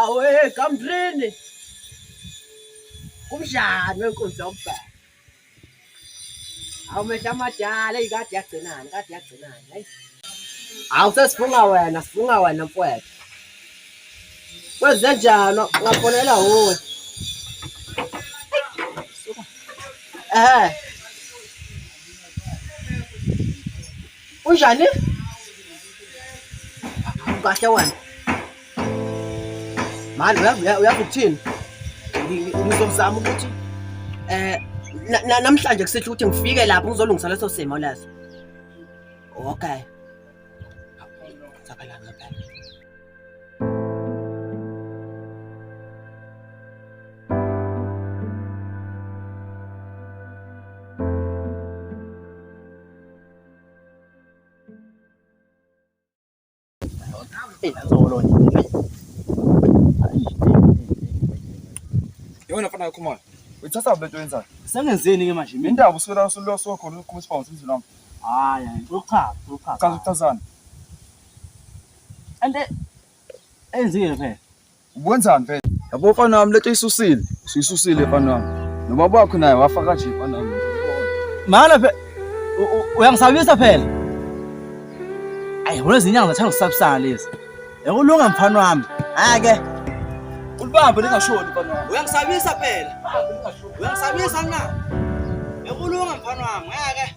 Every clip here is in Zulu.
awe kamdrini kumdlalo wenkunzi yokubheka Awu mehla amadala eyi kade yagcinani kade yagcinani hayi. Awu sesifunga wena sifunga wena mfwethu. Kwenze njani ngafonela wuwe. Eh. Unjani? Kahle wena. Manje uyazi ukuthini? Ngizozama ukuthi eh namhlanje kusihle ukuthi ngifike lapho ngizolungisa leso simo leso. Okay. Eyi, nzolo nje. Yona mfana yakho manje. Uyithatha le nto yenzayo. Sengenzeni ke manje mina? Indaba uswela uswela sokhona uqhuma isibhamu semzini wami. Hayi, hayi, uchaza, uchaza. Uchaza ukuchazana. Ante enzile phela. Ukwenzani mfethu? Yabo mfana wami lento isusile. Sisusile mfana wami. Nobaba wakho naye wafa kanje mfana wami. Mana phela uyangisabisa phela. Ayi wena izinyanga zathanda ukusabisana lezi. Yakulunga mfana wami. Ake. Ulibambe lingashoni mfana wami. Uyangisabisa phela. Uyangisabisa na? Yakulunga mfana wami. Ake.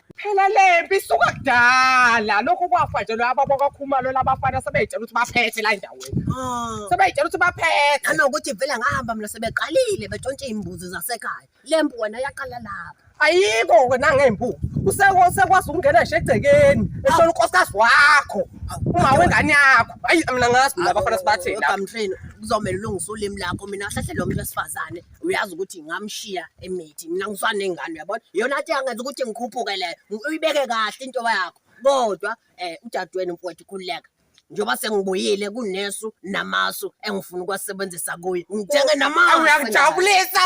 phela lempi isuka kudala lokhu kwafa nje lo ababo kakhumalo labafana sebeyitshela ukuthi baphethe la endaweni ah. sebeyitshela ukuthi baphethe nanokuthi vele ngahamba mina sebeqalile betshontshe iy'mbuzi zasekhaya le mpu wena yaqala lapha ayikho wena ngempu usekwazi ukungena nje egcekeni eshona unkosikazi wakho uma wengane yakho ayi mina ngazi mina abafana sibathini kuzomele ulungise ulimi lakho mina ahlahlele lo muntu wesifazane uyazi ukuthi ngamshiya emithi mina ngisanengane uyabona yona athi angenza ukuthi ngikhuphuke leyo uyibeke kahle into yakho kodwa eh udadewenu mfowethu khululeka njengoba sengibuyile kunesu namasu engifuna ukwasebenzisa kuyo ngithenge namasu uyangijabulisa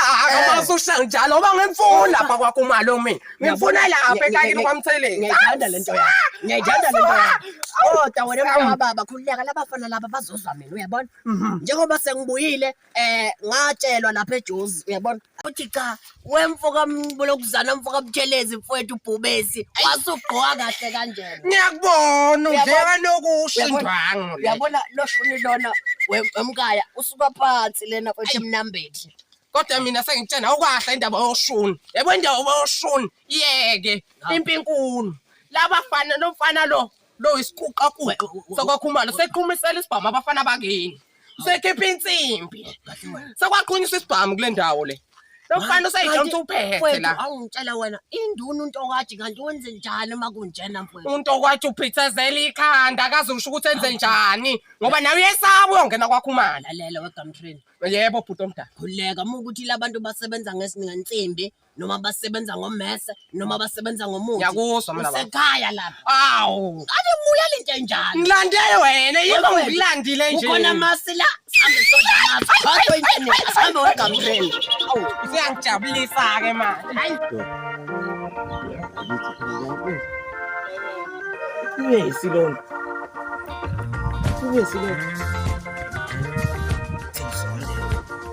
amasu usha njalo oba ngimfuni lapha kwakho umali omi ngimfuna lapha ekayini kwamtheleni ngiyayithanda lento yakho ngiyayithanda lento yakho kodwa wena mntana baba khululeka labafana laba bazozwa mina uyabona mhm. njengoba sengibuyile eh ngatshelwa lapha eJozi uyabona uthi cha wemfo kambolokuzana mfo kamtshelezi mfowethu ubhubesi wasugqoka kahle kanjena ngiyakubona udleka nokusho indwangu uyabona loshuni lona wemkaya usuka phansi lena kwethe mnambethi kodwa mina sengitshena ukwahla indaba yoshuni yebo indaba yoshuni yeke impi inkulu laba fana nomfana lo lo isiquqaquqa sokwakhumalo seqhumisela isibhamu abafana bakini sekhipha insimbi sekwaqhunyiswa isibhamu kule ndawo le lofana usayidonsa uphethe la awungitshela wena induna untokwathi kanti wenze njani uma kunjena mfowethu untokwathi uphithezela ikhanda akaze usho ukuthi enze njani ngoba nawe uyesaba uyongena kwakhumala lelo wegamtrain yebo bhuti omdala khuleka uma ukuthi labantu basebenza ngesinensimbi noma basebenza ngommese noma basebenza ngomuthi Ngiyakuzwa mina baba. usekhaya lapha Awu. ake muya lento enjalo Ngilande wena yebo Wena. ngilandile nje. ukhona masi la sambe soda masi bakho internet sambe wegamreni awu Usuyangijabulisa ke manje. hayi Ibe isilonda. Ibe isilonda.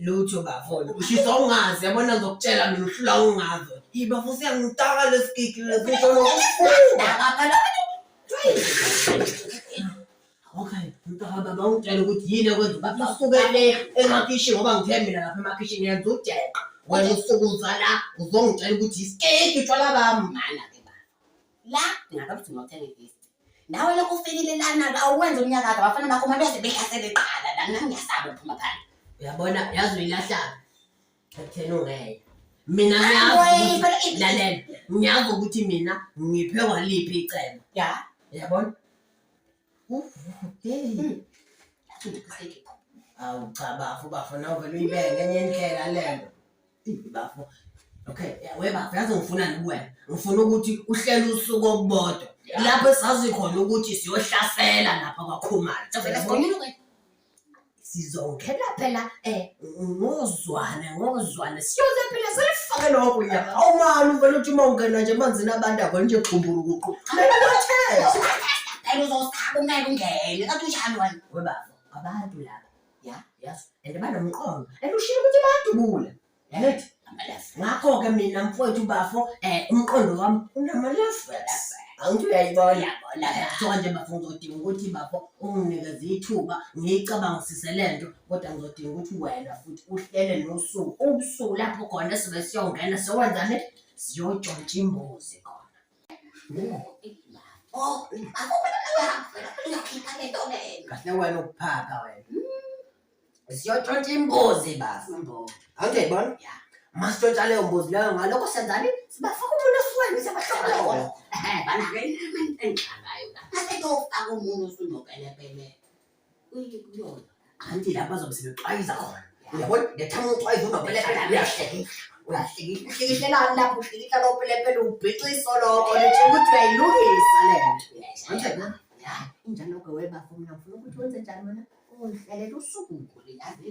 lutho bafona ushisa ungazi yabona ngizokutshela mina uhlula ungazi ibafo siyangitaka lesigigi lesisho nokufunda Okay, mntaka baba ungitshela ukuthi yini ekwenza ukuthi usuke le emakhishi ngoba ngithe mina lapha emakhishini yenza ujeqa wena usuke uza la uzongitshela ukuthi isikeki utshwala bami mana ke baba la ngakabuthi ngothenga ifisti nawe lokho ufikile lana-ke awuwenzi umnyaka ake abafana bakho uma beze behlasele qala la nami ngiyasaba ukuphuma phandle uyabona yazi uyilahlanga ekutheni ungeke mina ngiyazilalela ngiyazi ukuthi mina ngiphe waliphi icebo ya yabona hmm. awu cha bafo bafo nawe vele uyibeke enye indlela lento bafo okay we bafo yazi ngifunani kuwena ngifuna ukuthi uhlele usuku okubodwa lapho esazi khona ukuthi siyohlasela lapha kwakhumalo sizongena phela um ngozwane ngozwane siyoze phela selifake lokho ya awumali uvele uthi uma ungena nje emanzini abantu avele nje xumburukuqu melathela uzosaba ungeke ungene kathi unjani wena webafo abantu laba ya yazi and banomqondo and ushilo ukuthi bayadubula yanethi ngakho-ke mina mfowethu bafo um umqondo wami unamalevels angithi uyayibona kuthiwa nje bafo ngizodinga ukuthi bafo unginikeze ithuba ngiyicabangisise le nto kodwa ngizodinga ukuthi wena futhi uhlele nosuku ubusuku lapho khona sibe siyongena siyokwenzani siyontshontsha imbuzi khona kahle wena ukuphaka wena siyotshontsha imbuzi basi angiyibona masitshontsha leyo mbuzi leyo ngalokho senzani sibafaka umuntu esiweni siyabahlobela Uyike kuyona. Anti lapha bazobe sebexwayiza khona. Uyabona? Ngethanga uxwayiza unopelepele uyahlekisa. Uyahlekisa. Uhlekiselani lapho uhlekiisa lopelepele ubhixa iso lokho lithi ukuthi uyayilungisa le nto. Manje na? Ya, injalo ke webafo mina ngifuna ukuthi wenze njani wena? Ungihlelele usuku ngule yazi.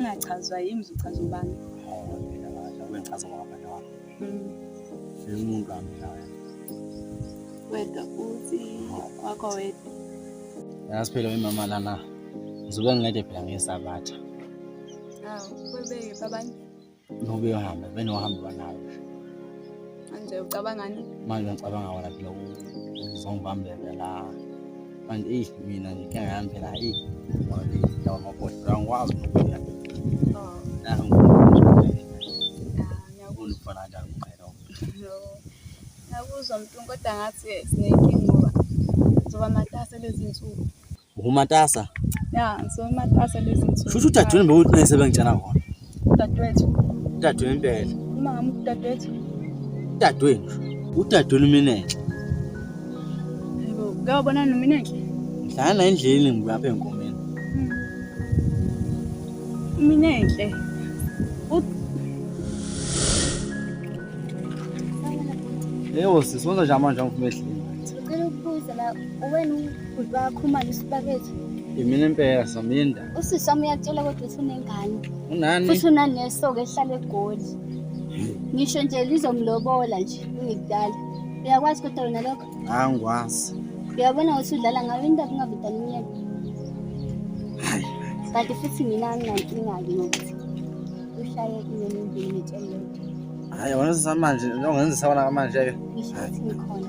ngingachazwa yimi ngizochaza ubani wengichaza ngabani wami umuntu wami nawe wedwa futhi wakho wedwa yazi phela imama lana ngizobe ngingede phela ngesabatha awu kwebeke babani Ngoba uyohamba, vele uhamba banayo. Manje ucabangani? Manje ngicabanga wona phela uzongibambela la. Manje eyi mina nje inkinga yami phela eyi ngoba le ndawo yamaboda angikwazi nokuya. Oh. Naho ngifuna ukufana kanjani umqhele wami. Ngiyakuzwa mntu kodwa ngathi sinenkinga ngoba ngizoba matasa lezi nsuku. Umatasa. Ya, so umatasa lezi nsuku. Shusho udadewenu bewuthi nese bengitshela khona. Udadewethu. Udadewenu impela. Mama udadewethu. Udadewenu. Udadewenu mina enhle. Yebo, ngiyabona nomina enhle. Ngihlala la endlini ngibuyapha enkomeni. Hmm. Mina enhle. Eyo sisonza nje amanje angifuna ehlini. Ucela ukubuza la wena Bhuti bayakhumala isibakethi. Yimina impela Saminda. Usisi wami uyakutshela kodwa ukuthi unengane. Unani? Futhi unaneso-ke ehlala egoli. Ngisho nje lizomlobola nje ungikudala. Uyakwazi kodwa wena lokho? Angikwazi. Uyabona ukuthi udlala ngayo into kungabe udala umyeni. Kanti futhi mina anginankinga-ke ngokuthi ushaye inyoni embili ngitshele yodwa. Hhayi, wena samanje, njengoba ngenzisa wona kamanje-ke. Ngisho ukuthi ngikhona.